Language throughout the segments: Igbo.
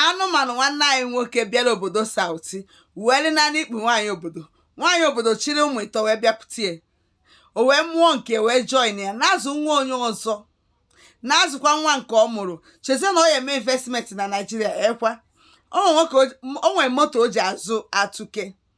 anụmanụ nwanne anyị nwoke bịara obodo south wee dinaa n'ikpu nwaanyị obodo nwaanyị obodo chịrị ụmụ ịtọ wee bịakwute ya o wee mụọ nke wee join ya na-azụ nwa onye ọzọ na-azụkwa nwa nke ọ mụrụ chezie na ọ ya eme investment na naijiria ekwa o nwere moto o ji azụ atụke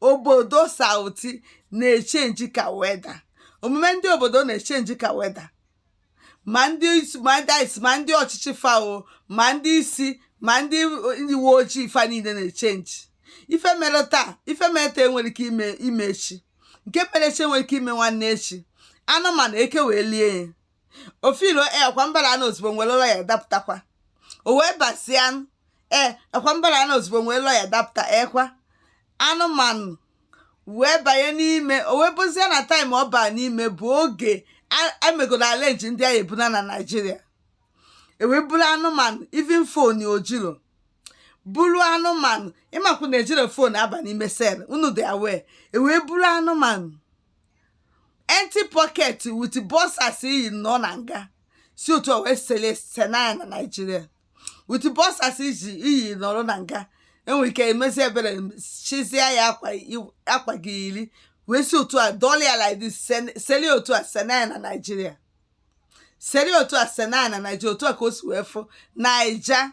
obodo south na-echenji ka weather omume ndị obodo na-echenji ka weather ma ndị ọchịchị fa o ma ndị isi ma ndị uwe ojii fa niile na-echenji ife mere taa ife mere taa enwere ike ime echi nke mere echi enwere ike ime nwanne echi anụmanụ eke wee lie ya ofilo e akwa mbara anụ ozugbo nwere ụlọ ya dapụtakwa o wee basịa anụ ee akwa mbara anụ ozugbo nwere ụlọ ya dapụta ekwa anụmanụ wee banye n'ime o wee bụzie na time ọ baa n'ime bụ oge a- emegoro arrange ndị a ga-ebuna na naijiria ewee buru anụmanụ even phone o jiro buru anụmanụ ị makwa na ejiro phone aba n'ime cell unu dị aware ewee buru anụmanụ empty pocket with boxers i yi nọ na nga si otu a wee sele senaya na naijiria with boxers i yi nọrọ na nga enwere ike emezi ebere chizia ya akwa i- akwa ọ ga-eyiri wee si otu a dọla ya like this sen- seli otu a senaya na naijiria seli otu a senaya na naijiria otu a ka o si wee fụ naija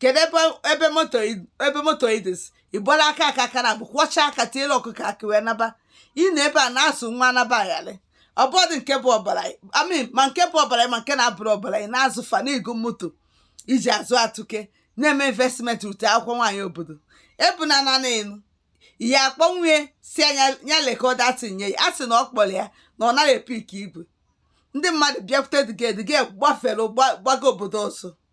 kedu ebe ebe moto i- ebe moto idis ị gbara aka aka aka na abụ kwọcha aka tiere ọkụkọ akị wee naba ị nọ ebe a na-azụ nwa naba ayalị obodo nke bụ ọbara amin ma nke bụ ọbara ma nke na-abụrọ ọbara ị na-azụ fa na-ego moto i ji azụ atụke na-eme investment ute akwụkwọ nwaanyị obodo ebu na nanị enu ihe akpọnwue si anya ya lekọda tinye ya a sị na ọ kpọrọ ya na ọ naghị epik igwe ndị mmadụ bịakwute dịgedịge gbafere gba- gbaga obodo ọzọ